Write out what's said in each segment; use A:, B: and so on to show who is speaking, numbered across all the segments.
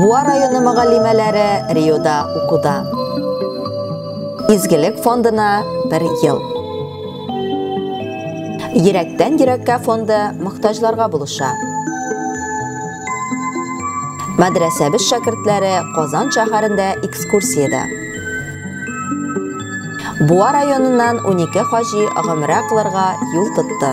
A: Буа районы мөгаллимәләре Риода укуда. Изгелек фондына бер ел. Йөрәктән йөрәккә фонды мохтаҗларга булыша. Мәдрәсәбез шәкертләре Казан шәһәрендә экскурсиядә. Буа районыннан 12 хаҗи гомрә кылырга юл тотты.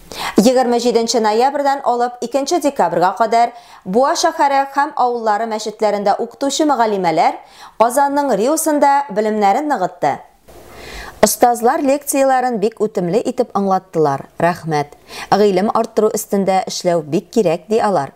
A: 27 нче ноябрьдән алып 2 нче декабрьгә кадәр Буа шәһәре һәм авыллары мәчетләрендә укытучы мөгаллимәләр Казанның РИУсында белемнәрен ныгытты. Остазлар лекцияләрен бик үтемле итеп аңлаттылар, рәхмәт. Гыйлем арттыру өстендә эшләү бик кирәк, ди алар.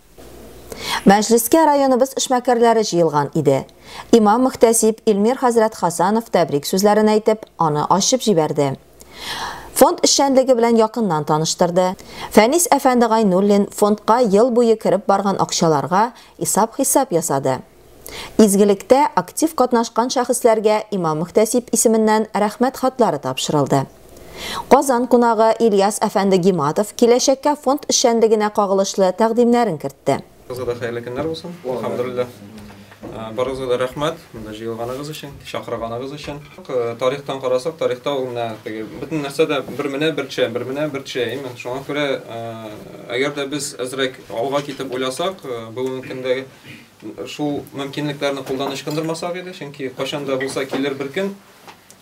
A: Мәҗлескә районыбыз эшмәкәрләре җыелган иде. Имам-мөхтәсиб Илмир хәзрәт Хасанов тәбрик сүзләрен әйтеп, аны ачып җибәрде. Фонд эшчәнлеге белән якыннан таныштырды. Фәнис әфәнде Гайнуллин фондка ел буе кереп барган акчаларга исап-хисап ясады. Изгелектә актив катнашкан шәхесләргә имам-мөхтәсиб исеменнән Рәхмәт хатлары тапшырылды. Казан кунагы Ильяс әфәнде Гиматов киләчәккә фонд эшчәнлегенә кагылышлы тәкъдимнәрен кертте. Барыгызга да хәерле көннәр
B: булсын. Әлхәмдүлилләһ. Барыгызга да рәхмәт, монда җыелганыгыз өчен, чакырганыгыз өчен. Тарихтан карасак, тарихта ул менә теге, бөтен нәрсә дә бер менә бер төшә, бер менә бер төшә, әйеме? Шуңа күрә, әгәр дә без әзрәк алга китеп уйласак, бүгенге көндәге. Шул мөмкинлекләрне кулдан ычкындырмасак иде, чөнки кайчан да булса килер бер көн,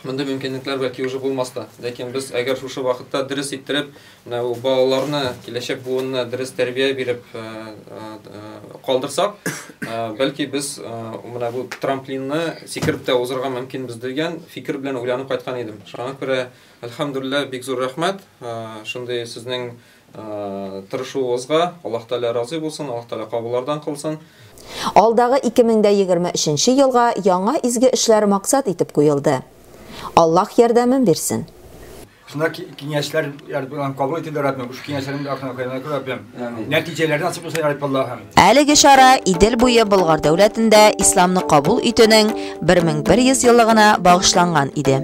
B: мондый мөмкинлекләр бәлки уже булмас та. Ләкин без әгәр шушы вакытта дөрес иттереп, менә бу балаларны, киләчәк буынны дөрес тәрбия биреп калдырсак, бәлки без менә бу трамплинны сикереп тә узарга мөмкинбез дигән фикер белән уйланып кайткан идем. Шуңа күрә, әлхәмдүлилләһ, бик зур рәхмәт, шундый сезнең Тырышуыгызга Аллаһ Тәгалә разый булсын, Аллаһ Тәгалә кабуллардан кылсын. Алдагы
A: 2023 нче елга яңа изге эшләр максат итеп куелды. Аллаһ ярдәмен бирсен. Шунда
C: киңәшләр Ярабби Аллаһым кабул итеп Яраббим, шул киңәшләрен дә ахырына куйган итеп Яраббим. Амин. Нәтиҗәләре насыйп булсын Ярабби Аллаһым. Әлеге чара
A: Идел буе Болгар дәүләтендә исламны кабул итүнең 1100 еллыгына багышланган иде.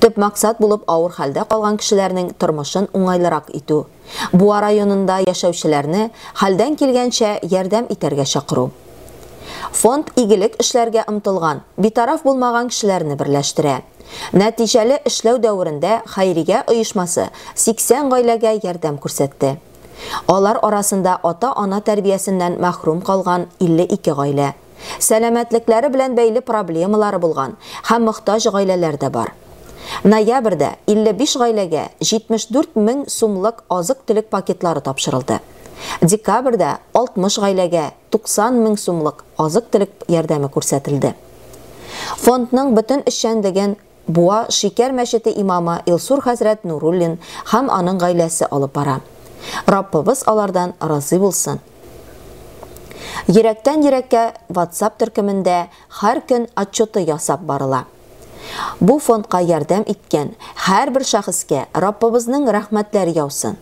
A: Төп максат булып авыр хәлдә калган кешеләрнең тормышын уңайлырак итү, Буа районында яшәүчеләрне хәлдән килгәнчә ярдәм итәргә чакыру. Фонд игелек эшләргә омтылган, битараф булмаган кешеләрне берләштерә. Нәтиҗәле эшләү дәверендә хәйрия оешмасы 80 гаиләгә ярдәм күрсәтте. Алар арасында ата-ана тәрбиясеннән мәхрүм калган 52 гаилә. сәламәтлекләре белән бәйле проблемалары булган һәм мохтаҗ гаиләләр дә бар. Ноябрьдә 55 гаиләгә 74 мең сумлык азык-төлек пакетлары тапшырылды. Декабрьдә 60 гаиләгә 90 мең сумлык азык-төлек ярдәме күрсәтелде. Фондның бөтен эшчәнлеген Буа Шикәр мәчете имамы Илсур хәзрәт Нуруллин һәм аның гаиләсе алып бара. Раббыбыз алардан разый булсын. Йөрәктән йөрәккә WhatsApp төркемендә һәр көн отчеты ясап барыла. Бу фондка ярдәм иткән һәрбер шәхескә Раббыбызның рәхмәтләре яусын.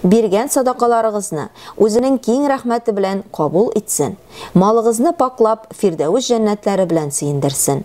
A: Биргән садакаларыгызны үзенең киң рәхмәте белән кабул итсен, малыгызны пакьлап, Фирдәвес җәннәтләре белән сөендерсен.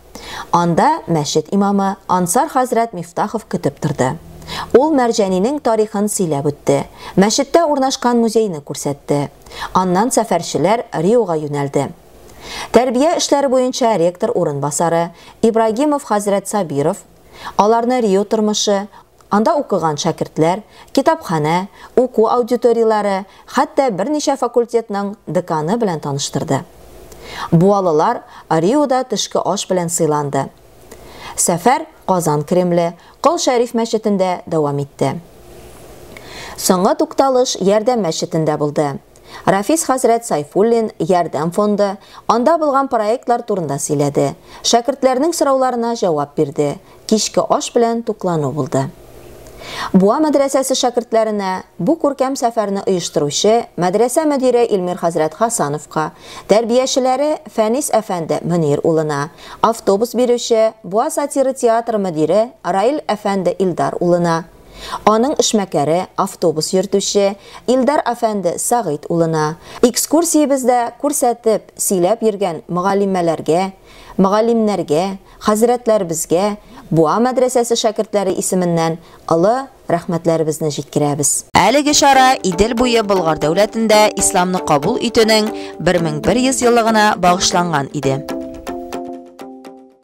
A: Анда мәчет имамы Ансар хәзрәт Мифтахов көтеп торды. Ул Мәрҗәнинең тарихын сөйләп үтте, мәчеттә урнашкан музейны күрсәтте. Аннан сәфәрчеләр Риога юнәлде. Тәрбия эшләре буенча ректор урынбасары Ибрагимов хәзрәт Сабиров, Аларны Рио тормышы, анда укыган шәкертләр, китапханә, уку аудиторияләре, хәтта берничә факультетның деканы белән таныштырды. Буалылар Риода төшке аш белән сыйланды. Сәфәр Казан Кремле, Кол Шәриф мәчетендә дәвам итте. Соңгы тукталыш Ярдәм мәчетендә булды. Рафис хәзрәт Сайфуллин Ярдәм фонды, анда булган проектлар турында сөйләде, шәкертләрнең сорауларына җавап бирде, кичке аш белән туклану булды. Буа мәдрәсәсе шәкертләренә, бу күркәм сәфәрне оештыручы мәдрәсә мөдире Илмир хәзрәт Хасановка, тәрбиячеләре Фәнис әфәнде Мөнир улына, автобус бирүче Буа сатиры театры мөдире Раил әфәнде Илдар улына, Аның эшмәкәре, автобус йөртүче Илдар әфәнде Сәгыйть улына, экскурсиябездә күрсәтеп, сөйләп йөргән мөгаллимәләргә, мөгаллимнәргә, хәзрәтләребезгә Буа мәдрәсәсе шәкертләре исеменнән олы рәхмәтләребезне җиткерәбез. Әлеге чара Идел буе Болгар дәүләтендә исламны кабул итүнең 1100 еллыгына багышланган иде.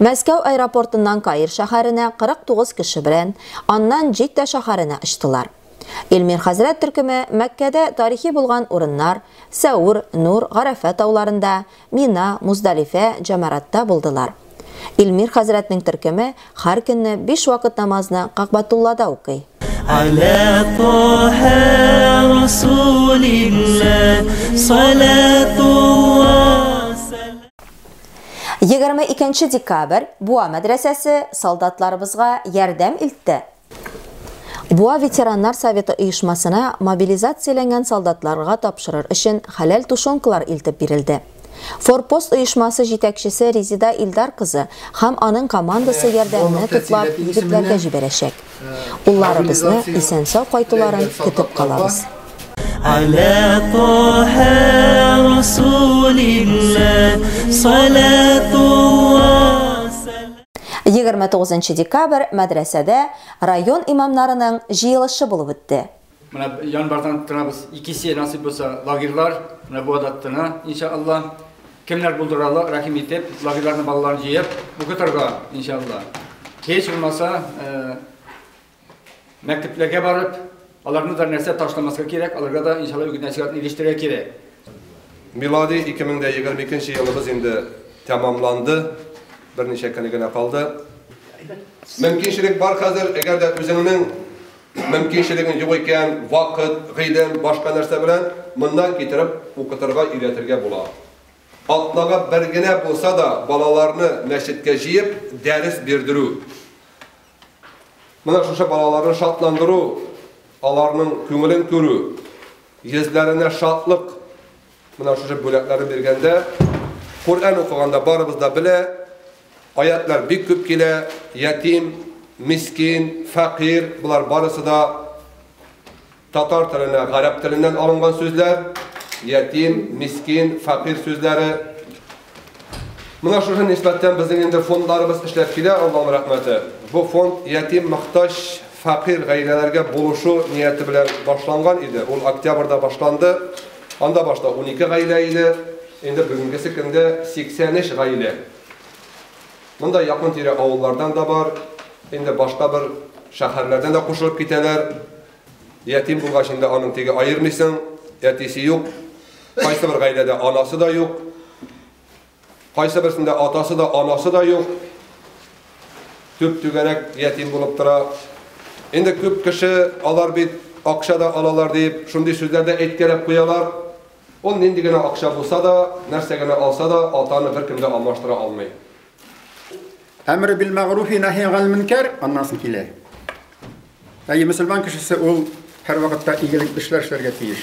A: Мәскәү аэропортыннан Каир шәһәренә 49 кеше белән, аннан Җиддә шәһәренә очтылар. Илмир хәзрәт төркеме Мәккәдә тарихи булган урыннар, Сәүр, Нур, Гарәфә тауларында, Мина, Муздалифә, Җәмаратта булдылар. Илмир хәзрәтнең төркеме һәр көнне биш вакыт намазны Кәгъбәтуллада укый. Галә
D: Таһә Расулилләһ салатулла сәлам.
A: Егерме икенче декабрь Буа мәдрәсәсе солдатларыбызга ярдәм илтте. Буа ветераннар советы оешмасына мобилизацияләнгән солдатларга тапшырыр өчен хәләл тушенкалар илтеп бирелде. Форпост оешмасы җитәкчесе Резида Илдар кызы һәм аның командасы ярдәмне туплап егетләргә җибәрәчәк. Улларыбызны исән-сау кайтуларын көтеп калабыз. Аля
D: Тоһә Расулилла салатулла
A: Егерме тугызынчы декабрь мәдрәсәдә район имамнарының җыелышы булып үтте. Менә январьдан
C: торабыз, икесе насыйп булса лагерьлар, менә бу адаттына, иншалла. Кемнәр булдыралар, рәхим итеп, лагерьларның балаларын җыеп, укытырга, иншалла. Һич булмаса, мәктәпләргә барып, аларны да нәрсә ташламаска кирәк, аларга да иншалла үгез нәсихәтне ирештерергә кирәк. Милади
E: 2022 нче елыбыз инде тәмамланды, берничә көне генә калды. Мөмкинчелек бар хәзер, әгәр дә үзеңнең Мөмкинчелегең юк икән, вакыт, гыйлем, башка нәрсә белән моннан китереп укытырга өйрәтергә була. Атнага бер генә булса да балаларны мәчеткә җыеп дәрес бирдерү, менә шушы балаларны шатландыру, аларның күңелен күрү, йөзләренә шатлык, Менә шушы бүләкләрне биргәндә, Коръән укыганда барыбыз да белә, аятьләр бик күп килә, ятим, мискин, фәкыйрь, болар барысы да татар теленә гарәп теленнән алынган сүзләр, ятим, мискин, фәкыйрь сүзләре. Менә шушы нисбәттән безнең инде фондларыбыз эшләп килә, Аллаһның рәхмәте. Бу фонд ятим, мохтаҗ, фәкыйрь гаиләләргә булышу нияте белән башланган иде. Ул октябрьдә башланды. Анда башта унике гаилә иде, инде бүгенгесе көндә 83 гаилә. Монда якын-тирә авыллардан да бар, инде башка бер шәһәрләрдән дә кушылып китәләр. Ятим булгач инде аның теге аермыйсың, әтисе юк, кайсы бер гаиләдә анасы да юк, кайсы берсендә атасы да, анасы да юк. Төп түгәрәк ятим булып тора. Инде күп кеше алар бит акча да алалар дип, шундый сүзләр дә әйткәләп куялар. Ул нинди генә акча булса да, нәрсә генә алса да, атаны беркем дә алмаштыра алмый.
F: Әмре бил мәгруфи нәһи гал мөнкәр, аннан соң килә. Әйе, мөселман кешесе ул һәрвакытта игелек эшләр эшләргә тиеш.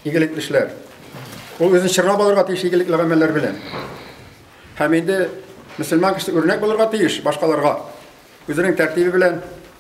F: Игелек эшләр. Ул үзен чыгара балырга тиеш игелек гамәлләр белән. Һәм инде мөселман кешесе үрнәк булырга тиеш башкаларга. Үзенең тәртибе белән,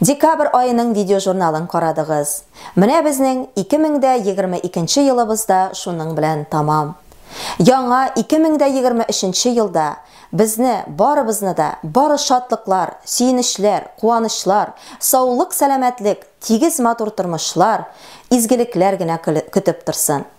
A: Декабрь аеның видеожурналын карадыгыз. Менә безнең 2022 елыбыз да шуның белән тәмам. Яңа 2023 елда безне, барыбызны да, бары шатлыклар, сөенечләр, куанычлар, саулык-сәламәтлек, тигез-матур тормышлар, изгелекләр генә көтеп торсын.